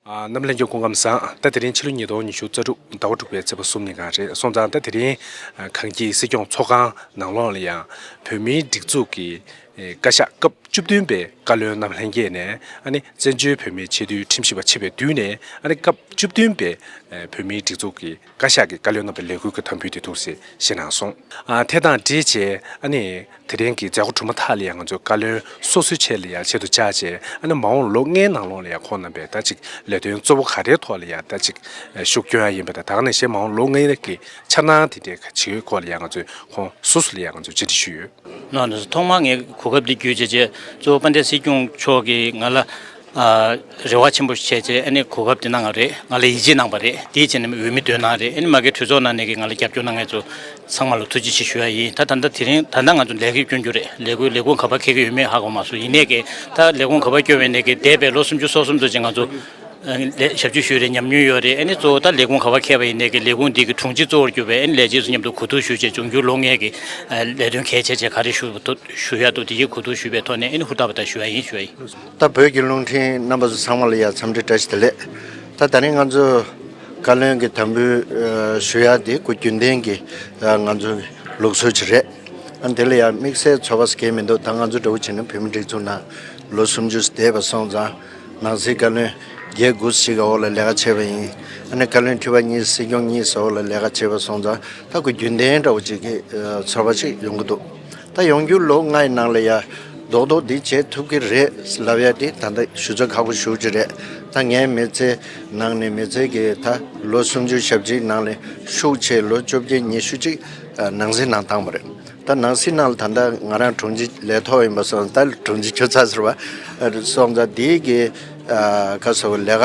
ནམ་གླིང་སྒྱུ་གུང་ཁམས་བཟང། ཟླ་དེ་རིང་ཕྱི་ལོ་ཉིས་སྟོང་ཉི་ཤུ་རྩ་དྲུག་ཟླ་བ་དྲུག་པའི་ཚེས་པ་གསུམ་ཉིན་གང་རེད་སོང་ཙང་ཟླ་དེ་རིང་གངས་སྐྱིད་སྲིད་སྐྱོང་ཚོགས་ཁང་ནང་ལོགས་ལ་ཡང་བོད་མིའི་སྒྲིག་འཛུགས་ཀྱི་བཀའ་ཤག་སྐབས་བཅུ་བདུན་པའི་བཀའ་བློན་རྣམས་ལྷན་རྒྱས་ནས་ཨ་ནི་བཙན་བྱོལ་བོད་མིའི་ཆེས་མཐོའི་ཁྲིམས་ཞིབ་པ་ཆེ་བའི་མདུན་ནས་ཨ་ནི་སྐབས་བཅུ་བདུན་པའི་བོད་མིའི་སྒྲིག་འཛུགས་ཀྱི། བཀའ་ཤག་གི་བཀའ་བློན་རྣམ་པས་ལས་འགུལ་གྱི་དམ་འབུལ་དེ་ཐུགས་བཞེས་ཞེ་གནང་སོང། དེ་དང་འབྲེལ་རྗེས་ཨ་ནི་དེ་རིང་གི་མཛད་སྒོ་གྲུབ་མ་ཐག་ལ་ཡང་ང་ཚོའི་བཀའ་བློན་སོ་སོའི་ཆེད་ལ་ཡང་ཆེད་དུ་བཅར་རྗེས་ཨ་ནི་མ་འོངས་ལོ་ལྔའི་ནང་ལོགས་ལ་ཡང་ཁོང་རྣམ་པས་ད་ཅིག་ལས་དོན་གཙོ་བོ་ག་རེའི་ཐོག་ལ་ཡང་ད་ཅིག་ཤུགས་སྐྱོན་ཡ་ཡིན་པ་དང་ད་ག་ནས་གཞན་མ་འོངས་ལོ་ལྔའི་རིང་གི་འཆར་སྣང་དེ་འདྲའི་ཇི་ཡོད་སྐོར་ལ་ཡང་ང་ཚོས་ཁོང་སོ་སོ་ལ་ཡང་ང་ཚོས་བཅར་འདྲི་ཞུས་ཡོད། ཐོག་མར་ངས་གོ་སྐབས་འདི་བརྒྱུད་རྗེས་གཙོ་བོ་དཔལ་ལྡན་སྲིད་སྐྱོང་མཆོག་གིས་ང་ལ། རེ་བ་ཆེན་པོ་ཞིག་བྱས་རྗེས་ཨ་ནེ་གོ་སྐབས་དེ་གནང་བ་རེད་ང་ལ་ཡིད་ཆེས་གནང་བ་རེད་དེའི་རྗེས་ནས་འོས་མི་བདུན་གནང་བ་རེད་ཨ་ནེ་མ་གའི་གྲོས་ཚོགས་ནང་ནས་ཀྱི་ང་ལ་རྒྱབ་སྐྱོར་གནང་མཁན་ཚོ་ཚང་མ་ལ་ཐུགས་རྗེ་ཆེ་ཞུ་ཡ་ཡིན་ད་ད་ལྟ་དེ་རིང་ད་ལྟ་ང་ཚོ་ལས་ཀའི་སྐྱོན་རྒྱུ་རེད་ལས་ཀུ་ལས་ཁུངས་ག་པར་འཁེལ་གི་ཡོད་མེད་ཧ་གོ་མ་སོང་ཡིན་ནས་ཀྱི་ད་ལས་ཁུངས་ག་པར་སྐྱོ་བས་ནས་ཀྱི་འདས་པའི་ལོ་སུམ་ཅུ་སོ་གསུམ་ཙོ་ཅི་ང་ཚོ་ལས་ཞབས་ཇུས་ཞུས་རེད་ཉམས་མྱོང་ཡོད་རེད་ཨ་ནེ་གཙོ་བོ་ད་ལས་ཁུངས་ག་པར་འཁེལ་བ་ཡིན་ནས་ཀྱི་ལས་ཁུངས་འདི་ཀྱི་དྲུང་ཆེ་གཙོ་བོར་གྱུར་བས་ཨ་ནེ་ལས་བྱེད་ཚོ་མཉམ་དུ་གོ་བསྡུར་ཞུ་རྗེས་འབྱུང་འགྱུར་ལོ་ལྔའི་ཀྱི་ལས་དོན་གལ་ཆེ་ཆེ་ག་རེ་ཞུ་ཞུ་ཡ་འདུག་དེ་ཀྱི་གོ་བསྡུར་ཞུས་པའི་ཐོག་ནས་ཨ་ནེ་ཧུར་ཐག་པ་ཐག་ཞུ་ཡ་ཡིན་ཞུ་ཡ་ཡིན། ད་བོད་ཀྱི་རླུང་འཕྲིན་རྣམ་པ་ཚང་མ་ལ་ཡང་འཚམས་འདྲི་བཀྲ་ཤིས་བདེ་ལེགས། ད་ད་རིང་ང་ཚོས་བཀའ་བློན་གྱི་དམ་འབུལ་ཞུ་ཡག་འདི་སྐུ་རྒྱུན་ལྡན་གྱི་ང་ཚོའི་ལུགས་སྲོལ་ཅིག་རེད། འདི་ལ་ཡང་དམིགས་བསལ་ཚོར་བ་ཟེར་གྱིན་མི་འདུག་ད་ང་ཚོ་འདྲ་བོ་བྱས་ན་བོད་མི་སྒྲིག་འཛུགས་ནང་ལོ་སུམ་ཅུ་འདས་པ་སོང་ཙང་ནང་སྲིད་བཀའ་བློན་བརྒྱད་དགུ་ཞིག་གི་འོག་ལ་ལས་ཀ་བྱས་པ་ཡིན། ཨ་ནི་བཀའ་བློན་ཁྲི་པ་གཉིས་སྲིད་སྐྱོང་གཉིས་སོགས་ལ་ལས་ཀ་བྱས་པ་སོང་ཙང་ད་སྐུ་རྒྱུན་ལྡན་འདྲ་བོ་བྱེད་ཀྱི་ཚོར་བ་ཞིག་ཡོང་གི་འདུག། ད་ཡོང་རྒྱུ་ལོ་ལྔའི་ནང་ལ་ཡ་རྡོག་རྡོག་འདི་བྱེད་ཐུབ་ཀྱི་རེད་ལབ་ཡ་དེ་ད་ལྟ་ཞུ་ཚ་ཁག་པོ་ཞུ་གྱི་རེད་ད་ངའི་མི་ཚེ་ནང་ནས་མི་ཚེ་གི་ད་ལོ་སུམ་ཅུ་ཞབས་ཅིག་ནང་ལས་ཤུགས་ཆེ་ལོ་བཅོ་བརྒྱད་ཉི་ཤུ་ཅིག་ནང་སྲིད་ནང་བཏང་པ་རེད་ད་ནང་སྲིད་ནང་ལ་ད་ལྟ་ང་རང་དྲུང་ཆེ་ལས་ཐོག་ཡིན་པ་སོང་ད་དྲུང་ཆེ་ཆུ་ཚ་ཟེར་བ་སོང་ད་འདིའི་གི་ཁ་ཟེར་བ་ལས་ཀ་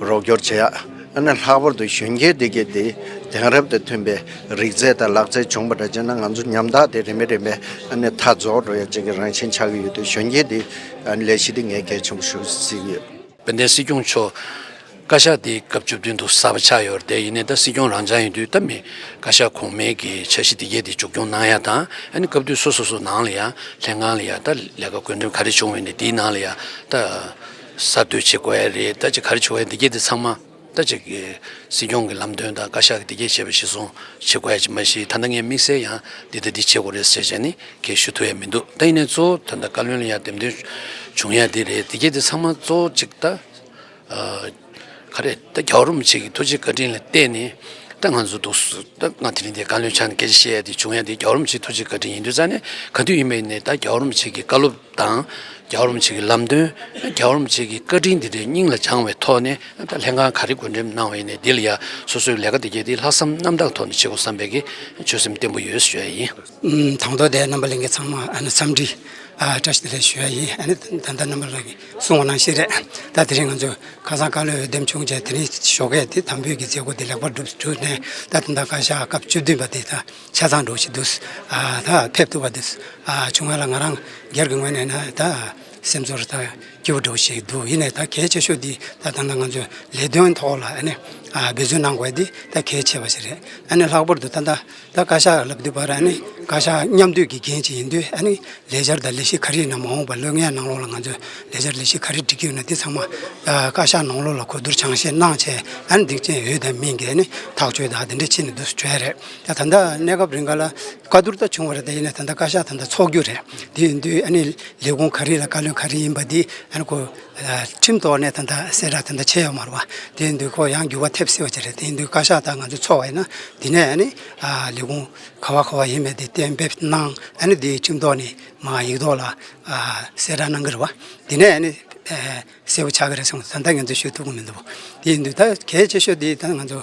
རོགས་སྐྱོར་བྱེད་ཡག་ཨ་ནི་ལྷག་པར་དུ་གཞོན་སྐྱེས་སྡེ་དགེ་འདི་དེང་རབས་དང་མཐུན་པའི་རིག་རྩལ་དང་ལག་རྩལ་སྦྱོང་པ་འདྲ་བྱས་ན་ང་ཚོ་ཉམ་ཐག་སྟེ་རིན་མེད་རིན་མེད་ཨ་ནི་མཐའ་རྫོགས་འགྲོ་ཡག་ཅིག་གི་རང་བཞིན་ཆགས་ཀྱི་ཡོད་དུས་གཞོན་སྐྱེས་འདི་ཨ་ནི་ལས་གཞི་འདི་ངས་གལ་ཆེན་པོ་ཞུ་བསྲིགས་ཡོད། དཔལ་ལྡན་སྲིད་སྐྱོང་མཆོག། བཀའ་ཤག་འདི་སྐབས་བཅུ་བདུན་དུ་གསར་པ་ཆགས་ཡོད་རེད་དེ་ཡིན་ནས་ད་སྲིད་སྐྱོང་རང་བྱང་ཡིན་དུས་ད་མི་བཀའ་ཤག་གོང་མའི་གི་འཆར་གཞི་འདི་གས་འདི་མཇུག་སྐྱོང་གནང་ཡག་དང་ཨ་ནི་སྐབས་དུས་སོ་སོ་སོ་ནང་ལ་ཡང་ལྷན་ཁང་ལ་ཡང་ད་ལས་ཀ་དགོས་འདུན་ག་རེ་བྱུང་ཡོད་ནས་འདིའི་ནང་ལ་ཡང་ད། གསར་གཏོད་བྱེད་དགོས་ཨེ་རེད་ལྟ་ཅི་ག་རེ་བྱུང་ཨེ་འདི་སྐད་དེ་ཚང་མ་ལྟ་ཅི། སྲིད་སྐྱོང་གི་ལམ་སྟོན་དང་བཀའ་ཤག་གིས་འདི་སྐད་བྱས་པ་གཞི་བཟུང་བྱེད་དགོས་ཨེ་ཅི་མ་གཞི་ད་ལྟ་ངས་དམིགས་བསལ་ཡང་འདི་དང་འདི་བྱེད་དགོས་རེད་ཟེར་བྱས་ནི་ཁྱེད་ཞུ་ཐུབ་ཨེ་མི་འདུག་ད་ཡིན་ནའི་གཙོ་བོ་ད་ལྟ་བཀའ་བློན་ལ་ཡང་འདེམས་ཐོན་བྱུང་ཡང་འདི་རེད་འདི་སྐད་དེ་ཚང་མ་གཙོ་བོ་གཅིག་ལྟ། ག་རེ་ལྟ་རྒྱ་རོ་མི་བྱེད་ཀྱི་ཐུགས་རྗེ་བཀའ་དྲིན་ལ་བལྟས་ནི་ལྟ་ང་ཚོ་འདུག་ཟུར་ལྟ་ང་དེ་རིང་འདི་བཀའ་བློན་ཕྱག་ནས་སྐད་ཆ་བཤད་ཡ་འདི་བྱུང་ཡ་འདི་རྒྱ་རོ་མི་བྱེད་ཐུགས་རྗེ་བཀའ་དྲིན་ཡིན་དུས་རྩ་ནས་ག་དུས་ཡིན་པ་ཡིན་ནའི་ལྟ་རྒྱ་རོ་མི་བྱེད་ཀྱི་བཀའ་སློབ། དང། རྒྱ་རོམ་བྱེད་ཀྱི་ལམ་སྟོན། རྒྱ་རོམ་བྱེད་ཀྱི་བཀའ་དྲིན་འདི་འདྲའི་སྙིང་ལ་བཅངས་བའི་ཐོག་ནས་ལྷན་ཁང་ག་རེ་བགོས་འགྲེམས་གནང་བ་ཡིན་ནས་འདི་ལ་ཡ་སོ་སོའི་ལས་ཀ་འདི་གལ་ཏེ་ལྷག་བསམ་རྣམ་དག་ཐོག་ནས་བྱེད་དགོས་བསམ་པའི་ཆོད་སེམས་བརྟན་པོ་ཡོད་ཞུ་ཡ་ཡིན། དང་ཐོག་དེ་རྣམ་པ་གླིང་གི་ཚང་མ་འཚམས་འདྲི་བཀྲ་ཤིས་བདེ་ལེགས་ཞུ་ཡ་ཡིན། ད་ལྟ་རྣམ་པ་ལགས་ཀྱིས་གསུང་བ་ནང་བཞིན་རེད་ད་དེ་རིང་ང་ཚོས་ཁ་སང་བཀའ་བློན་འོས་འདེམས་བྱུང་རྗེས་དེ་རིང་ཞོགས་ཁས་དེ་དམ་འབུལ་གྱི་མཛད་སྒོ་དེ་ལེགས་པར་གྲུབ་ནས་ད་དེ་ད་བཀའ་ཤག་སྐབས་བཅུ་བདུན་པ་དེ་ད་ཆ་ཚང་འགྲོ་བཞིན་འདུག་ད་ཕེབས་ཐུབ་པ་དེ་བྱུང་བ་ལ་ང་རང་སྒེར་གྱི་ངོས་ནས་ན་ད་སེམས་ཚོར་ད་སྐྱིད་པོ་འགྲོ་བཞིན་འདུག་ཡིན་ནས་ད་གལ་ཆེ་ཤོས་འདི་ད་ད་ནང་ང་ཚོས་ལས་དོན་ཐོག་ལ་ཨ་ནི་འབད་བརྩོན་གནང་དགོས་འདི་ད་གལ་ཆེ་བ་ཞིག་རེད་ཨ་ནི་ལྷག་པར་དུ་ད་ད་བཀའ་ཤག་ལབ་དུས་བར་ཨ་ནི་བཀའ་ཤག་མཉམ་སྡུད་ཀྱི་འགན་ཞིག་ཡིན་དུས་ཨ་ནི་ལས་འཆར་དང་ལས་གཞི་ག་རེ་ཡིན་ན་མ་འོངས་པར་ལོ་ལྔའི་ནང་ལོགས་ལ་ང་ཚོས་ལས་འཆར་ལས་གཞི་ག་རེ་སྒྲིག་གི་ཡོད་ན་འདི་ཚང་མ་བཀའ་ཤག་ནང་ལོགས་ལ་གོ་བསྡུར་བྱང་ཤེས་གནང་བྱས་ཨ་ནི་འདི་ཅན་ཡོད་དམ་མིན་གྱི་ཨ་ནི་ཐག་གཅོད་དང་འདི་འདྲ་ཕྱིན་ནས་འདུག་བྱས་རེད། ད་ད་ལྟ་གནས་སྐབས་རེ་འགའ་ལ་བཀའ་བསྡུར་ད་བྱུང་བ་རེད་ད་ཡིན་ན་ད་ལྟ་བཀའ་ཤག་ད་ལྟ་འཚོགས་རྒྱུ་རེད་དེ་ཡིན་དུས་ཨ་ནི་ལས་ཁུངས་ག་རེ་ལ་བཀའ་བློན་ག་རེ་ཡིན་པ་འདི་ཨ་ནི་ཁོ་ཁྲིམས་ཐོག་ནས་ད་ལྟ་གསལ་བསྒྲགས་ད་ལྟ་བྱས་ཡོད་མ་རེད་བ་དེ་ཡིན་དུས་ཁོ་ཡང་འགྱུར་བ་ཐེབས་སྲིད་བ་ཅི་རེད་དེ་ཡིན་དུས་བཀའ་ཤག་ད་ང་ཚོ་འཚོགས་བ་ཡིན་ན་དེ་ནས་ཨ་ནི་ལས་ཁུངས་ག་བ་ག་བ་ཡིན་མེད་དེ་གཏན་འབེབས་གནང་ཨ་ནི་དེ་ཁྲིམས་ཐོག་ནས་མ་ཡིག་ཐོག་ལ་གསལ་བསྒྲགས་གནང་གི་རེད་བ་དེ་ནས་ཨ་ནི་གསལ་བོ་ཆགས་ཀྱི་རེད་སོང་ད་ལྟ་ང་ཚོས་ཤོད་ཐུབ་ཀྱི་མི་འདུག་བ་དེ་ཡིན་དུས་ད་གལ་ཆེ་ཤོས་དེ་ད་ང་ཚོ་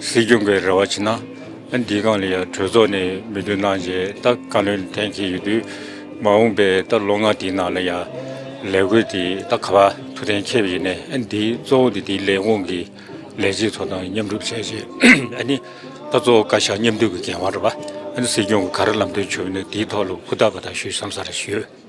སྲིད་སྐྱོང་གི་རེ་བ་ཆེ་ན་འདི་སྒང་ལ་ཡང་གྲོས་ཚོགས་ནས་མི་འདུག་གནང་རྗེས་ད་བཀའ་བློན་འཐེན་གྱི་ཡོད་དུས་མ་འོངས་པའི་ད་ལོ་ལྔ་དེའི་ནང་ལ་ཡང་ལས་བགོས་དེ་ད་ག་བ་ཐུགས་གཏན་འཁེལ་བ་ཡིན་ནས་འདི་གཙོ་བོ་དེ་དེའི་ལས་དབང་གི་ལས་བྱེད་ཚོ་དང་མཉམ་སྒྲུབ་བྱས་རྗེས་ཨ་ནི་ད་གཙོ་བོ་བཀའ་ཤག་མཉམ་སྡུད་ཀྱི་འགན་དབང་རེད་པ་ཨ་ནི་སྲིད་སྐྱོང་གི་ག་རེ་ལམ་སྟོན་བྱུང་ཡོད་ན་དེའི་ཐོག་ལ་ཧུར་ཐག་པ་ཐག་ཞུས་སམ་ས་རེ་ཞུས།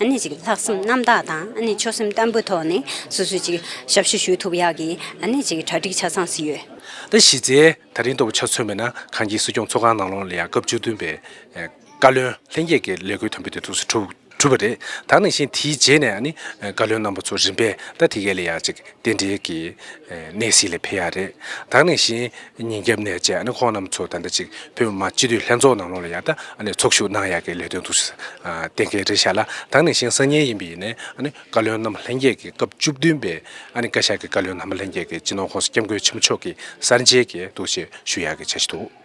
ནི་ཅིག་ལྷག་བསམ་རྣམ་དག་དང་ཆོད་སེམས་བརྟན་པོའི་ཐོག་ནས་སོ་སོས་ཅིག་ཞབས་ཞུ་ཞུ་ཐུབ་ཡག་གི་ནི་ཅིག་གྲ་སྒྲིག་ཆ་ཚང་བཟི་ཡོད། ཟླ་བཞི་ཚེས་ད་རིང་ལྟ་བུ་ཆ་མཚོན་མེད་ན་གངས་སྐྱིད་སྲིད་སྐྱོང་ཚོགས་ཁང་ནང་ལོང་ལ་ཡང་སྐབས་བཅུ་བདུན་པའི་བཀའ་བློན་ལྷན་རྒྱས་ཀྱི་ལས་འཁུར་དམ་འབུལ་དེ་ཚོགས་སུ་གྲུབ་པ་རེད་ད་ནང་བཞིན་དེའི་རྗེས་ནས་ནི་བཀའ་བློན་རྣམ་པ་ཚོ་རིམ་པས་ད་དེ་གའི་ལ་ཡང་ཅིག་རྟེན་འབྲེལ་གྱི་གནས་གཟིགས་ལ་ཕེབས་ཡག་རེད་ད་ནང་བཞིན་ཉིན་རྒྱབ་ནས་བཅས་ཁོང་རྣམས་ཚོ་ད་ལྟ་ཅིག་བོད་མི་མང་སྤྱི་འཐུས་ལྷན་ཚོགས་ནང་ལོགས་ལ་ཡར་ལྟ་ཚོགས་ཞུགས་གནང་ཡག་གི་ལས་དོན་འདུག་གཏན་འཁེལ་རེ་བཞག་ལ་དང་ནས་བཞིན་སང་ཉིན་ཡིན་པའི་ཡིན་ནས་བཀའ་བློན་རྣམ་པ་ལྷན་རྒྱས་ཀྱི་སྐབས་བཅུ་བདུན་པའི་བཀའ་ཤག་གི་བཀའ་བློན་རྣམ་པ་ལྷན་རྒྱས་ཀྱི་སྤྱི་ནོར་ཁོངས་སུ་སྐྱབས་མགོན་ཆེན་པོ་མཆོག་གི་གསར་མཇལ་གྱི་འདུག་ཅེས་ཞུ་ཡག་གི་བྱ་གཞི་འདུག།